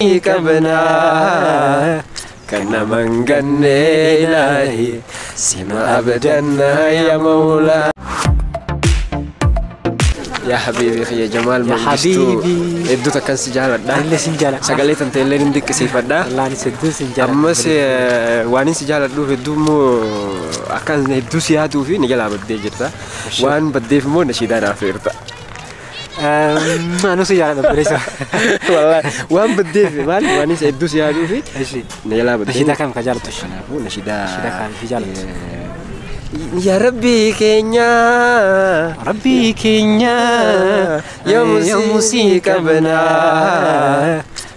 qabna kan nama hin ganne ilaahi sima abdanna ya mawla yaa habiibi kiyya jamaal mangistuu habiibi. hedduu takkan si jaaladha Anillee sin jaaladha. sagalee tan ta'ellee hin dinqisiifadha Wallaahi hedduun sin jaalladha. ammas eh, waan hin si jaaladhuuf hedduu immoo akkaan hedduu si yaaduu fi ni jalaa baddee jirta waan baddeef immoo nashiidaan hafeerta Anuu si yaala dhabbeessa. Wallahi waan baddeef maal waanis hedduu si yaaduu fi Eshi. neelaa baddee. Nashidaa kam ka jaalatu? Kanaafuu nashidaa. Nashidaa kam fi jaalatu? Yaa Rabbii keenya. Rabbii keenya yoomuu si qabnaa.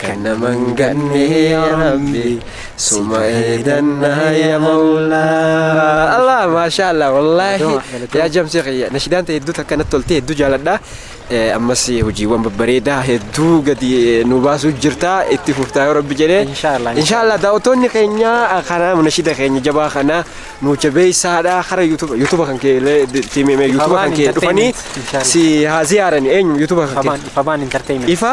Kan nama hin ganne yaa Rabbi suma eeganna yaa Mawlaa. Allah maashaa Allah wallaahi yaa jamsee kiyya nashidaan ta'e hedduu takka natti toltee hedduu jaaladha. Eh, Ammas hojiiwwan babbareedaa hedduu gadi eh, nu baasuu jirta itti fuftaa yoo Rabbi jedhee. Inshaallah, Inshaallah daawwattoonni keenya eh, kana nashida keenya jabaa kana nu jabeessaadha kara yuutuba yuutuba kan kee illee itti himee yuutuba kan kee dhufanii si haa ziyaarani eenyu yuutuba kan kee. Ifabaan entertainment. Ifa